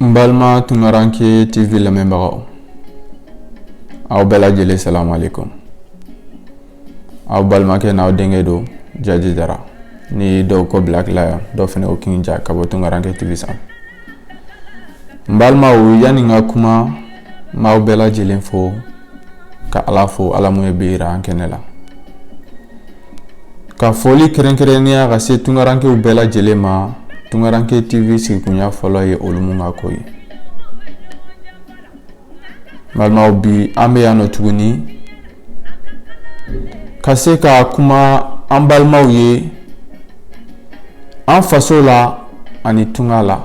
N balima tunkaranke TV lamɛnbagaw aw bɛɛ lajɛlen salamu aleyikum aw balimakɛ n'aw denkɛ don Jaji Jara ni dɔw ko Black Lion dɔw fana ko King Ja ka bɔ tunkaranke TV sanfɛ n balimaw yanni n ka kuma n b'aw bɛɛ lajɛlen fo ka ala fo ala mun ye bi yira an kɛnɛ la ka foli kɛrɛnkɛrɛnnenya ka se tunkarankew bɛɛ lajɛlen ma tunkaranke tv sigikunya fɔlɔ ye olu mun ka ko ye balimaw bi an bɛ yan nɔ tuguni ka se ka kuma an balimaw ye an faso la ani tunga la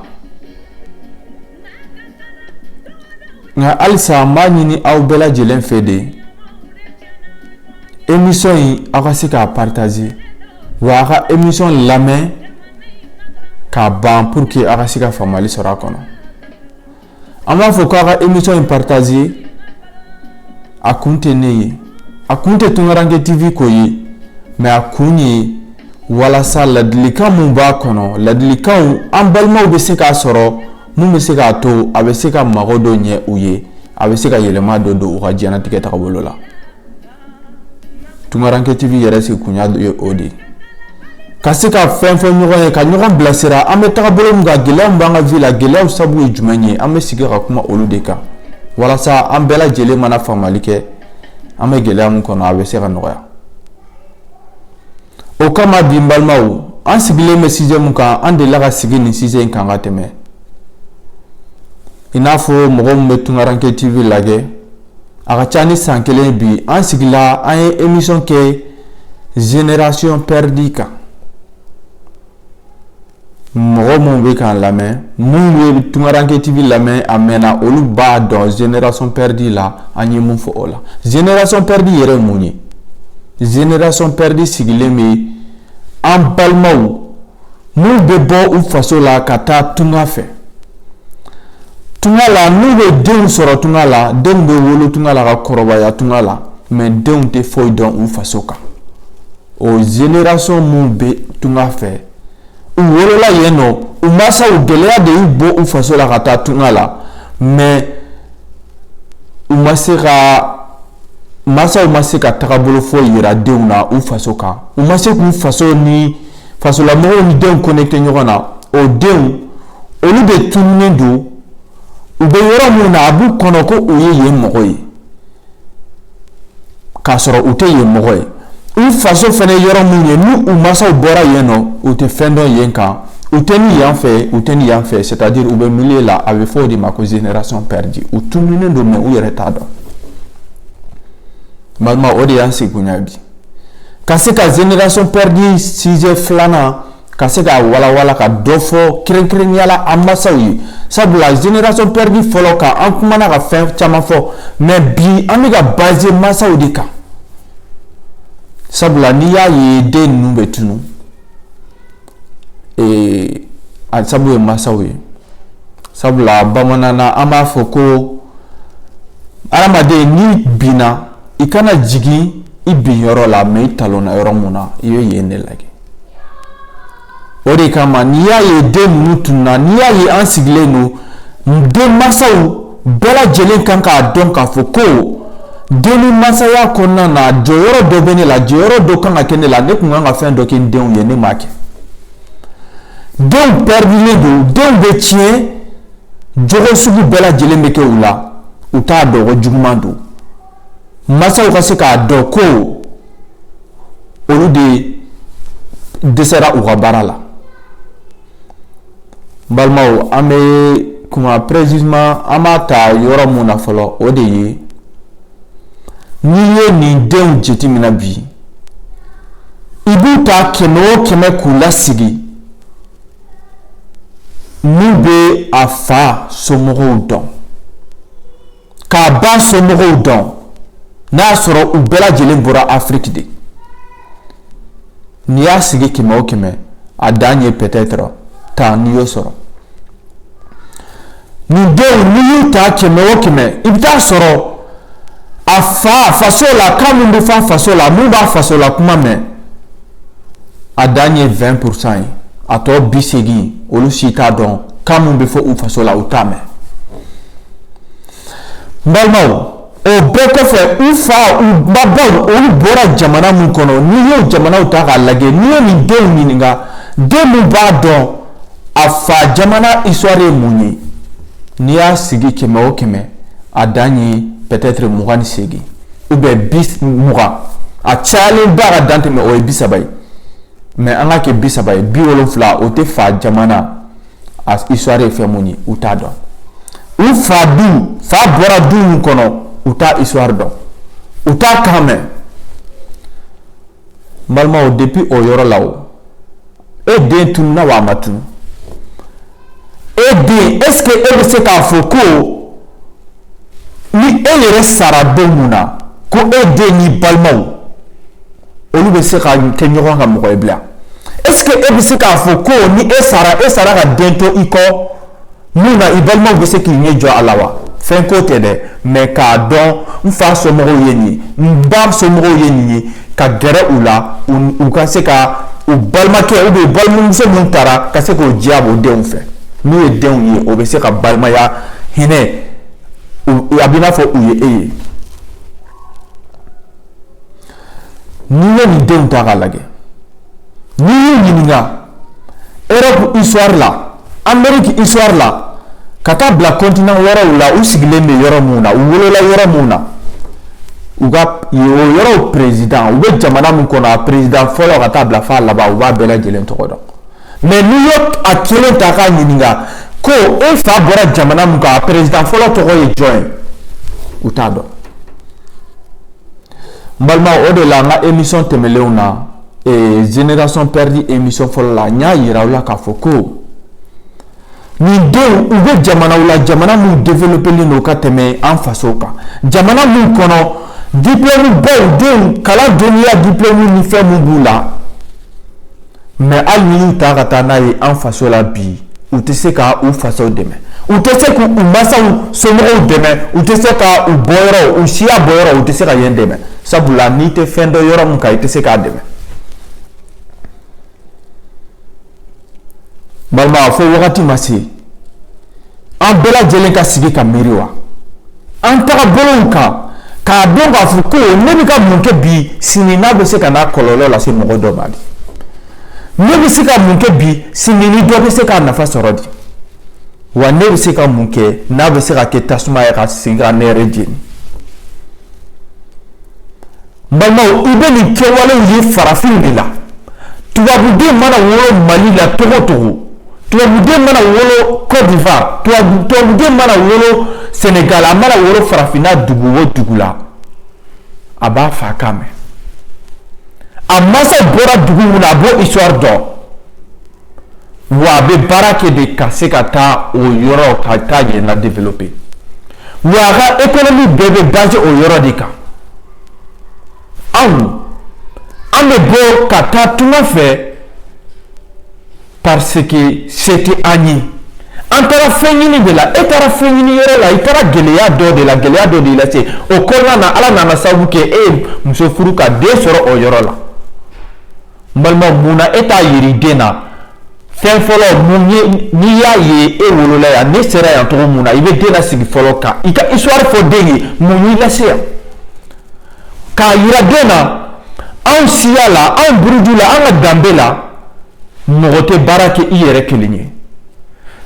nka halisa n b'a ɲini aw bɛɛ lajɛlen fɛ de emisɔn in aw ka se k'a paritaze wa a ka emisɔn lamɛn k'a ban puruke aw ka se ka faamali sɔrɔ a kɔnɔ An b'a fɔ k'a ka emisɔn in paritaze a kun tɛ ne ye a kun tɛ tunkaranke TV ko ye mɛ a kun ye walasa ladilikan minnu b'a kɔnɔ ladilikan an balimaw bɛ se k'a sɔrɔ minnu bɛ se k'a to a bɛ se ka mago dɔ ɲɛ u ye a bɛ se ka yɛlɛma dɔ don u ka diɲɛnatigɛ tagabolo la tunkaranke TV yɛrɛ sigikunya ye o de ye ka se ka fɛn fɔ ɲɔgɔn ye ka ɲɔgɔn bilasira an bɛ tagabolo min kan gɛlɛya min b'an ka vi la gɛlɛyaw sabu ye jumɛn ye an bɛ sigi ka kuma olu de kan walasa an bɛɛ lajɛlen mana faamali kɛ an bɛ gɛlɛya min kɔnɔ a bɛ se ka nɔgɔya o kama bi n balimaw an sigilen bɛ sijɛ min kan an delila ka sigi nin sijɛ in kan ka tɛmɛ i n'a fɔ mɔgɔ min bɛ tunkaranke tv lajɛ a ka ca ni san kelen ye bi an sigila an ye emisɔn kɛ zenerasɔn pɛridi kan mɔgɔ minnu bɛ k'an lamɛn minnu ye tunkaranke TV lamɛn a mɛnna olu b'a dɔn zenerasɔn pɛridi la an ye mun fɔ o la zenerasɔn pɛridi yɛrɛ mun ye zenerasɔn pɛridi sigilen bɛ an balimaw Minnu bɛ bɔ u faso la ka taa tunga fɛ tunga la n'u bɛ denw sɔrɔ tunga la denw bɛ wolo tunga la ka kɔrɔbaya tunga la mɛ denw tɛ foyi dɔn u faso kan o zenerasɔn minnu bɛ tunga fɛ u wolola yen nɔ u mansaw gɛlɛya de y'u bɔ u faso la ka taa tunga la mɛ u ma se ka mansaw ma se ka tagabolo foyi jira denw na u faso kan u ma se k'u faso ni fasolamɔgɔw ni denw connecté ɲɔgɔn na o denw olu de tununen don u bɛ yɔrɔ min na a b'u kɔnɔ ko u ye yen mɔgɔ ye k'a sɔrɔ u tɛ yen mɔgɔ ye u faso fana yɔrɔ mun ye ni u masaw bɔra yen nɔ u tɛ fɛn dɔn yen kan u tɛ ni yan fɛ u tɛ ni yan fɛ c'est à dire u bɛ milieu la a bɛ fɔ o de ma ko génération perdue u tununen don mais u yɛrɛ t'a dɔn balima o de y'an sigikun ye bi ka se ka génération perdue sujet filanan ka se ka walawala ka dɔ fɔ kɛrɛnkɛrɛnnenya la an masaw ye sabula génération perdue fɔlɔ kan an kumana ka fɛn caman fɔ mais bi an bɛ ka baser masaw de kan sabula n'i y'a ye den ninnu bɛ tunu ee a sabu ye masaw ye sabula bamananna an b'a fɔ ko hadamaden n'i binna i kana jigin i bin yɔrɔ la mais i talonna yɔrɔ mun na i bɛ yen de lajɛ o de kama n'i y'a ye den ninnu tununa n'i y'a ye an sigilen don den masaw bɛɛ lajɛlen kan k'a dɔn k'a fɔ ko den ni masaya kɔnɔna na jɔyɔrɔ dɔ bɛ ne la jɔyɔrɔ dɔ kan ka kɛ ne la ne tun kan ka fɛn dɔ kɛ n denw ye ne m'a kɛ denw pɛridilen don denw bɛ tiɲɛ jogo sugu bɛɛ lajɛlen bɛ kɛ u la u t'a dɔn ko juguman don masaw ka se k'a dɔn ko olu de dɛsɛra u ka baara la balimaw an bɛ kuma précisément an b'a ta yɔrɔ mun na fɔlɔ o de ye n'i ye nin denw jateminɛ bi i b'u ta kɛmɛ o kɛmɛ k'u lasigi min bɛ a fa somɔgɔw dɔn k'a ba somɔgɔw dɔn n'a y'a sɔrɔ u bɛɛ lajɛlen bɔra afiriki de n'i y'a sigi kɛmɛ o kɛmɛ a dan ye peut-être tan n'i y'o sɔrɔ nin denw n'i y'u ta kɛmɛ o kɛmɛ i bɛ t'a sɔrɔ a fa faso la kan min bɛ fa faso la min b'a faso la kuma mɛn a dan ye vingt pour cent ye a tɔ bi seegin olu si t'a dɔn kan min bɛ fɔ u faso la u t'a mɛn n balimaw O bɛɛ kɔfɛ u fa u babaw olu bɔra jamana min kɔnɔ n'i ye jamanaw ta k'a lajɛ n'i ye nin denw ɲininka den min b'a dɔn a fa jamana histoire ye mun ye n'i y'a sigi kɛmɛ o kɛmɛ a dan ye peut-être mugan ni seegin ou bien bi mugan a cayalen ba ka dan tɛmɛ o ye bi saba ye mais an ka kɛ bi saba ye bi wolonwula o tɛ fa jamana a histoire ye fɛn mun ye u t'a dɔn u fa du u fa bɔra du min kɔnɔ u t'a histoire dɔn u t'a kan mɛn n balimaw depuis o yɔrɔ la o e den tununna wa a ma tunun e den est ce que e bɛ se k'a fɔ ko ni e yɛrɛ sara don mun na ko e den n'i balimaw olu bɛ se ka kɛ ɲɔgɔn ka mɔgɔ ye bilen est ce que e bɛ se k'a fɔ ko ni e sara e sara ka den to i kɔ min na i balimaw bɛ se k'i ɲɛ jɔ a la wa fɛn ko tɛ dɛ mais k'a dɔn n fa somɔgɔw ye nin ye n ba somɔgɔw ye nin ye ka gɛrɛ u la u ka se ka u balimakɛ u bɛ balimamuso min taara ka se k'o diyabɔ denw fɛ n'u ye denw ye o bɛ se ka balimaya hinɛ a bɛ n'a fɔ u ye e ye n'i ye nin denw ta k'a lajɛ n'i y'u ɲininka europe histoire la Amérique histoire la ka taa bila continent wɛrɛw la u sigilen bɛ yɔrɔ min na u wolola yɔrɔ min na u ka yɔrɔ président u bɛ jamana min kɔnɔ a président fɔlɔ ka taa bila a laban u b'a bɛɛ lajɛlen tɔgɔ dɔn mais n'i ye a kelen ta k'a ɲininka ko e fa bɔra jamana min kan a président fɔlɔ tɔgɔ ye jɔn ye u t'a dɔn n balima o de la an ka émission tɛmɛnlenw na ee génération perdue émission fɔlɔ la n y'a yira aw la k'a fɔ ko nin denw u bɛ jamanaw la jamana minnu developelen don ka tɛmɛ an faso kan jamana minnu kɔnɔ diplɔmu baw denw kalan dɔnniya diplɔmu ni fɛn minnu b'u la mais hali n'i y'u ta ka taa n'a ye an faso la bi u tɛ se ka u fasow dɛmɛ u tɛ se k' u masaw somɔgɔw dɛmɛ u tɛ se ka u bɔ yɔrɔ u siya bɔ yɔrɔ u tɛ se ka yen dɛmɛ sabula n'i tɛ fɛn dɔn yɔrɔ min kan i tɛ se k'a dɛmɛ balima fo wagati ma se an bɛɛ lajɛlen ka sigi ka miiri wa an taga bolow kan k'a dɔn k'a fɔ ko ne bɛ ka mun kɛ bi sini n'a bɛ se ka na kɔlɔlɔ lase mɔgɔ dɔ ma de ne bɛ se ka mun kɛ bi sini ni dɔ bɛ se k'a nafa sɔrɔ di wa ne bɛ se ka mun kɛ n'a bɛ se ka kɛ tasuma ye ka segin ka ne yɛrɛ jeni balimaw i bɛ nin kɛwalew ye farafin de la tubabuden mana wolo mali la togo togo tubabuden mana wolo côte d'ivoire tubabuden mana wolo sénégal a mana wolo farafinna dugu o dugu la a b'a fa kan mɛn a masa bɔra dugu min na a b'o histoire dɔn wa a bɛ baara kɛ de ka se ka taa o yɔrɔ ka taa yen la développer wa a ka économie bɛɛ bɛ basé o yɔrɔ de kan anw an bɛ bɔ ka taa tunga fɛ parce que c'était an ye an taara fɛn ɲini de la e taara fɛn ɲini yɔrɔ la i taara gɛlɛya dɔ de la gɛlɛya dɔ de y'i lase o kɔnɔna na ala nana sababu kɛ e ye muso furu ka den sɔrɔ o yɔrɔ la n balima mun na e t'a yira den na fɛn fɔlɔ mun ye n'i y'a ye e wolola yan ne sera yan cogo mun na i bɛ den lasigi fɔlɔ ka i ka histoire fɔ den ye mun y'i lase yan. k'a yira den na anw siya la anw buruju la an ka danbe la mɔgɔ tɛ baara kɛ i yɛrɛ kelen ye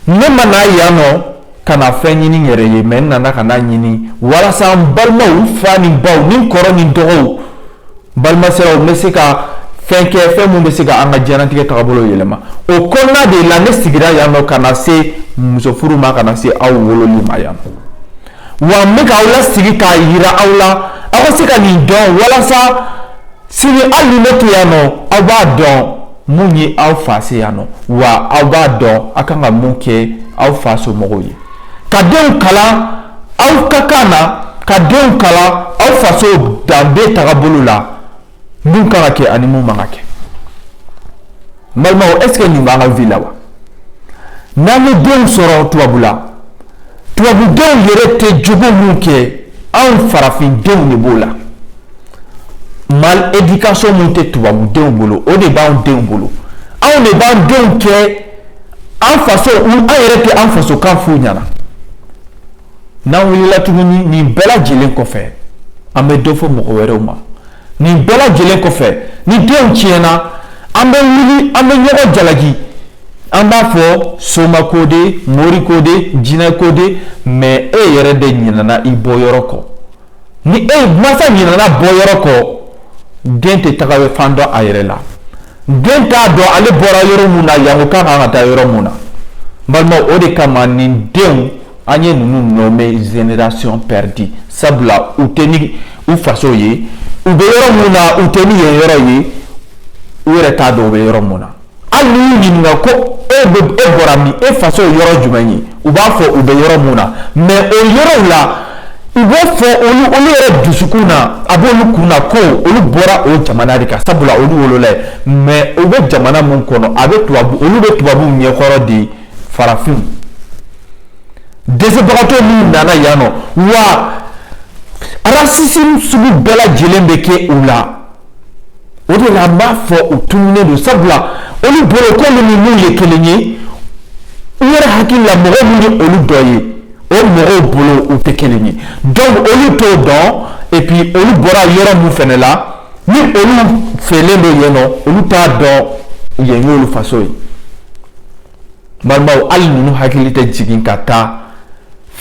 ne ma na yan nɔ ka na fɛn ɲini n yɛrɛ ye mais n nana ka n'a ɲini walasa n balimaw fa ni baw ni kɔrɔ ni dɔgɔw balimasiraw n bɛ se ka fɛn kɛ fɛn min bɛ se ka an ka diɲɛnatigɛ tagabolo yɛlɛma o kɔnɔna de la ne sigira yan nɔ ka na se musofuru ma ka na se aw wololi ma yan nɔ Wa n bɛ k'aw lasigi k'a yira aw la aw ka se ka nin dɔn walasa sini hali ni ne tɛ yan nɔ aw b'a dɔn mun ye aw fa se yan nɔ wa aw b'a dɔn aw kan ka mun kɛ aw fa somɔgɔw ye ka denw kalan aw ka kan na ka denw kalan aw faso danbe tagabolo la mun kan ka kɛ ani mun man ka kɛ n balimaw est ce que nin b'an ka vie la wa n'an ye denw sɔrɔ tubabula tubabudenw yɛrɛ tɛ jogo mun kɛ anw farafindenw de b'o la mal éducation mun tɛ tubabudenw bolo o de b'anw denw bolo anw de b'an denw kɛ an faso an yɛrɛ tɛ an fasokan f'u ɲɛna n'an wulila tuguni nin bɛɛ lajɛlen kɔfɛ an bɛ dɔ fɔ mɔgɔ wɛrɛw ma nin bɛɛ lajɛlen kɔfɛ ni denw tiɲɛna an bɛ wuli an bɛ ɲɔgɔn jalaki an b'a fɔ soma ko de mori ko de jinɛ ko de mais e yɛrɛ de ɲinana i bɔyɔrɔ kɔ ni e mansa ɲinana bɔyɔrɔ kɔ den tɛ taga fan dɔn a yɛrɛ la den t'a dɔn ale bɔra yɔrɔ mun na yango ka kan ka taa yɔrɔ mun na balima o de kama nin denw an ye ninnu nommé génération perdue sabula u tɛ ni u faso ye u bɛ yɔrɔ mun na u tɛ ni yen yɔrɔ ye u yɛrɛ t'a dɔn u bɛ yɔrɔ mun na hali n'i y'u ɲininka ko e bɛ e bɔra min e faso ye yɔrɔ jumɛn ye u b'a fɔ u bɛ yɔrɔ mun na mais o yɔrɔw la u b'o fɔ olu olu yɛrɛ dusukun na a b'olu kun na ko olu bɔra o jamana de kan sabula olu wolola yen mais u bɛ jamana mun kɔnɔ a bɛ tubabu olu bɛ tubabuw ɲɛkɔrɔ de farafin dɛsɛbagatɔ minnu nana yan nɔ wa racisme sugu bɛɛ lajɛlen bɛ kɛ u la o de la an b'a fɔ u tununnen don sabula olu bolo k'olu ni minnu ye kelen ye u yɛrɛ hakili la mɔgɔ min ye olu dɔ ye o mɔgɔw bolo u tɛ kelen ye donc olu t'o dɔn et puis olu bɔra yɔrɔ min fɛnɛ la ni olu fɛlen don yen nɔ olu t'a dɔn yen y'olu faso ye balimaw hali ninnu hakili tɛ jigin ka taa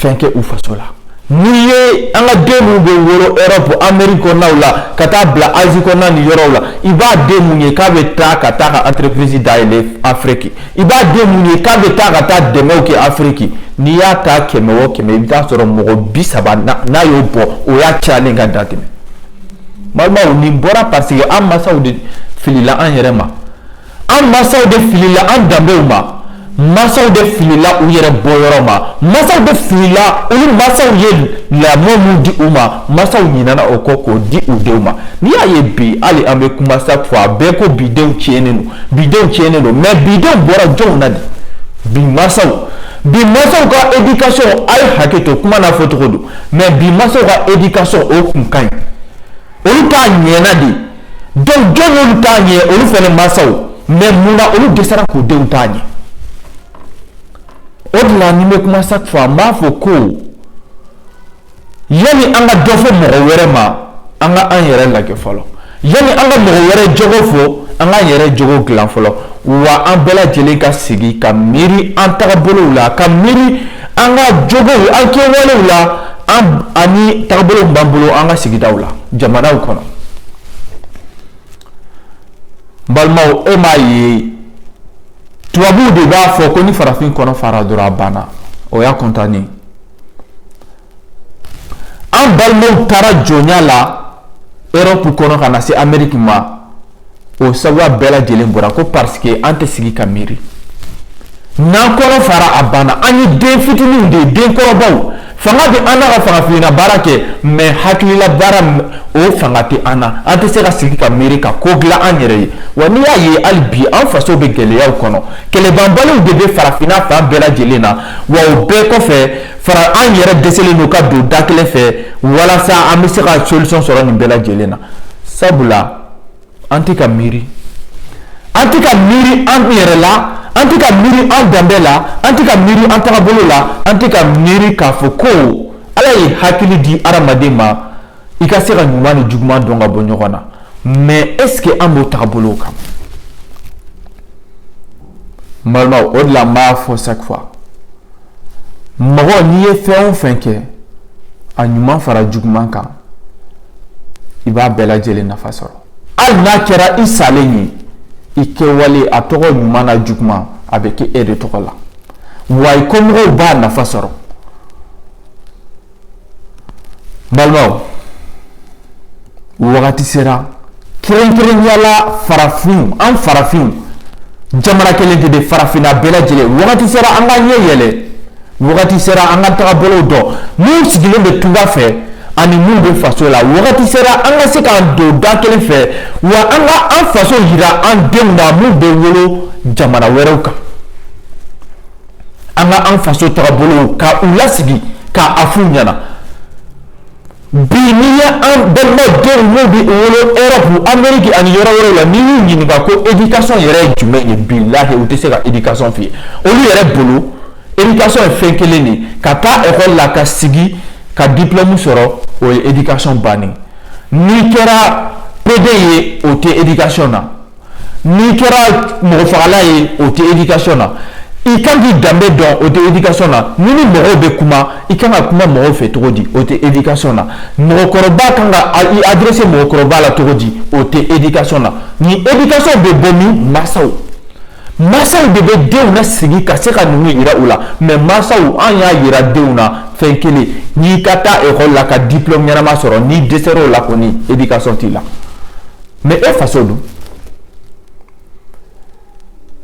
fɛn kɛ u faso la n'i ye an ka den minnu bɛ wolo Europe Amérique kɔnɔnaw la ka taa bila Asie kɔnɔna ni yɔrɔw la i b'a den min ye k'a bɛ taa ka taa ka entreprise dayɛlɛ Afrique i b'a den min ye k'a bɛ taa ka taa dɛmɛw kɛ Afrique n'i y'a ta kɛmɛ o kɛmɛ i bɛ taa sɔrɔ mɔgɔ bi saba n'a y'o bɔ o y'a cayalen ka dan tɛmɛ balimaw nin bɔra parce que an mansaw de filila an yɛrɛ ma. an mansaw de filila an danbew ma mansaw de filila u yɛrɛ bɔyɔrɔ ma mansaw de filila olu mansaw ye lamɔ min di u ma mansaw ɲinana o kɔ k'o di u denw ma n'i y'a ye bi hali an bɛ kuma sa fɔ a bɛɛ ko bidenw tiɲɛnen don bidenw tiɲɛnen don mais bidenw bɔra jɔnw na de bi mansaw bi mansaw ka éducation a ye hakɛ to kuma n'a fɔ cogo don mais bi mansaw ka éducation o kun ka ɲi olu ta ɲɛna de donc jɔn y'olu ta ɲɛ olu fɛnɛ mansaw mais mun na olu dɛsɛra k'u denw ta ɲɛ o de la ni n bɛ kuma chaque fois n b'a fɔ ko yanni an ka dɔ fɔ mɔgɔ wɛrɛ ma an ka an yɛrɛ lajɛ fɔlɔ yanni an ka mɔgɔ wɛrɛ jogo fɔ an k'an yɛrɛ jogo dilan fɔlɔ wa an bɛɛ lajɛlen ka sigi ka miiri an tagabolow la ka miiri An ka jogow an kɛwalew la ani taabolo b'an bolo an ka sigidaw la jamanaw kɔnɔ balimaw e m'a ye tubabuw de b'a fɔ ko ni farafin kɔnɔ fara dɔrɔn a banna o y'a kɔntannen an balimaw taara jɔnya la Europe kɔnɔ ka na se Amérique ma o sabu bɛɛ lajɛlen bɔra ko parce que an tɛ sigi ka miiri n'an kɔnɔ fara a banna an ye den fitininw de ye den kɔrɔbaw fanga bɛ an na ka farafinna baara kɛ mais hakilila baara o fanga tɛ an na an tɛ se ka sigi ka miiri ka ko dilan an yɛrɛ ye wa n'i y'a ye hali bi an faso bɛ gɛlɛyaw kɔnɔ kɛlɛbanbaliw de bɛ farafinna fan bɛɛ lajɛlen na wa o bɛɛ kɔfɛ fana an yɛrɛ dɛsɛlen don ka don da kelen fɛ walasa an bɛ se ka solution sɔrɔ nin bɛɛ lajɛlen na sabula an tɛ ka miiri an tɛ ka miiri an yɛrɛ la an tɛ ka miiri an danbe la an tɛ ka miiri an tagabolo la an tɛ ka miiri k'a fɔ ko ala ye hakili di adamaden ma i ka se ka ɲuman ni juguman dɔn ka bɔ ɲɔgɔn na mais est-ce que an b'o tagabolo kan balimaw o de la n b'a fɔ chaque fois mɔgɔ n'i ye fɛn o fɛn kɛ a ɲuman fara juguman kan i b'a bɛɛ lajɛlen nafa sɔrɔ hali n'a kɛra i salen ye i kɛwale a tɔgɔ ɲuman n'a juguman a bɛ kɛ e de tɔgɔ la wa i kɔmɔgɔw b'a nafa sɔrɔ balimaw wagati sera Kɛrɛnkɛrɛnnenya la farafinw an farafinw jamana kelen tɛ dɛ farafinna bɛɛ lajɛlen wagati sera an ka ɲɛ yɛlɛ wagati sera an ka tagabolow dɔn minnu sigilen bɛ tunga fɛ ani minnu bɛ faso la wagati sera an ka se k'an don da kelen fɛ wa an ka an faso yira an denw na minnu bɛ wolo jamana wɛrɛw kan an ka an faso tagabolow ka u lasigi k'a f'u ɲɛna Bi n'i ye an balimadenw minnu bɛ wolo Europe, Amérique ani yɔrɔ wɛrɛw la n'i y'u ɲininka ko éducation yɛrɛ ye jumɛn ye bilahi u tɛ se ka éducation f'i ye, olu yɛrɛ bolo éducation ye fɛn kelen de ye ka taa école la ka sigi ka diplôme sɔrɔ o ye éducation bannen ye, n'i kɛra pédé ye o tɛ éducation na n'i kɛra mɔgɔ fagala ye o tɛ éducation na i kan k'i danbe dɔn o tɛ éducation na ni ni mɔgɔw bɛ kuma i kan ka kuma mɔgɔw fɛ cogo di o tɛ éducation na mɔgɔkɔrɔba kan ka i adresser mɔgɔkɔrɔba la cogo di o tɛ éducation na ni éducation bɛ bɔ min mansaw mansaw de bɛ denw nasigi ka se ka ninnu yira u la mais mansaw an y'a yira denw na fɛn kelen n'i ka taa école la ka diplôme ɲɛnama sɔrɔ n'i dɛsɛr'o la kɔni éducation t'i la. mais e faso dun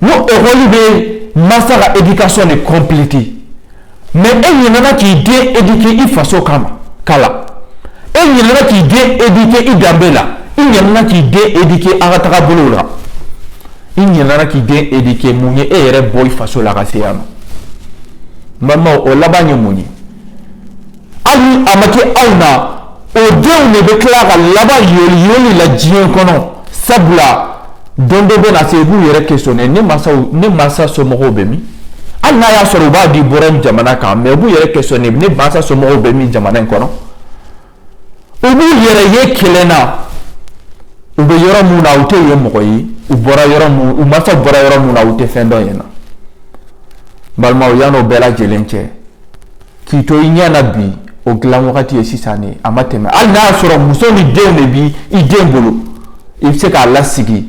n'o école bɛ mansa ka éducation de compléter mais e ɲinɛna k'i den éduquer i faso kama kala e ɲinɛna k'i den éduquer i danbe la i ɲinɛna k'i den éduquer an ka tagabolow la i ɲinɛna k'i den éduquer mun ye e yɛrɛ bɔ i faso la ka se yan nɔ n balimaw o laban ye mun ye hali a ma kɛ aw na o denw de bɛ tila ka laban yoliyoli la diɲɛ kɔnɔ sabula don dɔ bɛ na se u b'u yɛrɛ questionner ne mansaw ne mansa somɔgɔw bɛ min hali n'a y'a sɔrɔ u ba de bɔra in jamana kan mais u b'u yɛrɛ questionner ne mansa somɔgɔw bɛ min jamana in kɔnɔ u b'u yɛrɛ ye kelenna u bɛ yɔrɔ mun na u tɛ yen mɔgɔ ye u bɔra yɔrɔ mun u mansaw bɔra yɔrɔ mun na u tɛ fɛn dɔn yen na balimaw yann'o bɛɛ lajɛlen cɛ k'i to i ɲɛ na bi o dilan wagati ye sisan de a ma tɛmɛ hali n'a y'a sɔrɔ muso ni denw de b'i den bolo i bɛ se k'a lasigi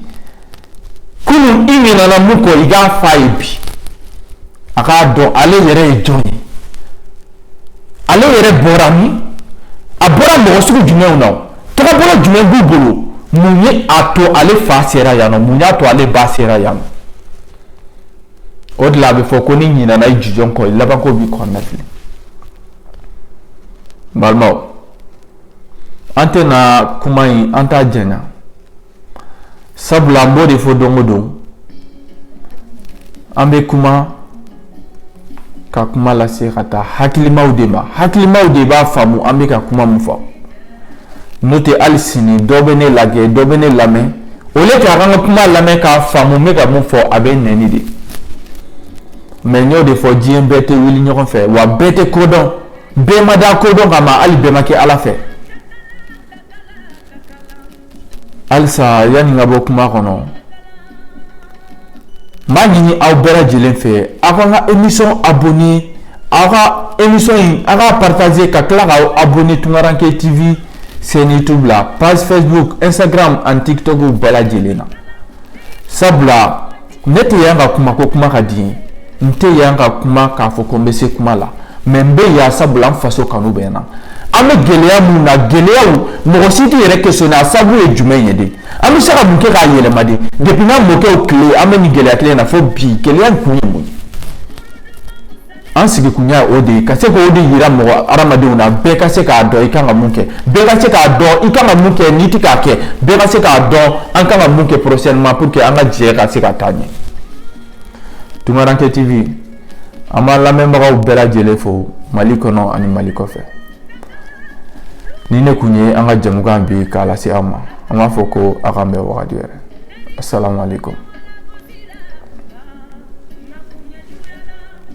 kunun i ɲinɛna mun kɔ i k'a f'a ye bi a k'a dɔn ale yɛrɛ ye jɔn ye ale yɛrɛ bɔra min a bɔra mɔgɔ sugu jumɛnw na tagabolo jumɛn b'u bolo mun ye a to ale fa sera yan nɔ mun y'a to ale ba sera yan nɔ o de la a bɛ fɔ ko n'i ɲinana i jujɔn kɔ i labanko b'i kɔnɔna fili n balimaw an tɛna kuma in an t'a janya sabula an b'o de fɔ don o don an bɛ kuma ka kuma lase ka taa hakilimaw de ma hakilimaw de b'a faamu an bɛ ka kuma min fɔ n'o tɛ hali sini dɔ bɛ ne lajɛ dɔ bɛ ne lamɛn au lieu que a ka n ka kuma lamɛn k'a faamu n bɛ ka mun fɔ a bɛ nɛni de mais n y'o de fɔ diɲɛ bɛɛ tɛ wuli ɲɔgɔn fɛ wa bɛɛ tɛ ko dɔn bɛɛ ma da kodɔn kama hali bɛɛ ma kɛ ala fɛ halisa yanni n ka bɔ kuma kɔnɔ n b'a ɲini aw bɛɛ lajɛlen fɛ aw ka n ka émission abonner aw ka émission in aw k'a partager ka tila k'aw abonner tunkaranke tv chaîne youtube la page facebook instagram ani tiktok bɛɛ lajɛlen na sabula ne tɛ yan ka kuma ko kuma ka di n ye n tɛ yan ka kuma k'a fɔ ko n bɛ se kuma la mais n bɛ yan sabula n faso kanu bɛ n na an bɛ gɛlɛya minnu na gɛlɛyaw mɔgɔ si t'i yɛrɛ questionner a sababu ye jumɛn ye de an bɛ se ka mun kɛ k'a yɛlɛma de depuis an mɔkɛw tile an bɛ nin gɛlɛya kelen na fo bi gɛlɛya kun ye mun ye an sigi kun yan o de ye ka se k'o de yira mɔgɔ hadamadenw na bɛɛ ka se k'a dɔn i kan ka mun kɛ bɛɛ ka se k'a dɔn i kan ka mun kɛ n'i tɛ k'a kɛ bɛɛ ka se k'a dɔn an kan ka mun kɛ prochainement pour que an ka jɛ ka se ka taa ɲɛ Tunkaranke TV an b'an lamɛnbagaw bɛɛ lajɛlen fo Mali kɔnɔ ani Mali kɔfɛ nin de tun ye an ka jɛmukan bi k'a lase aw ma an b'a fɔ ko a k'an bɛn wagati wɛrɛ asalamu aleykum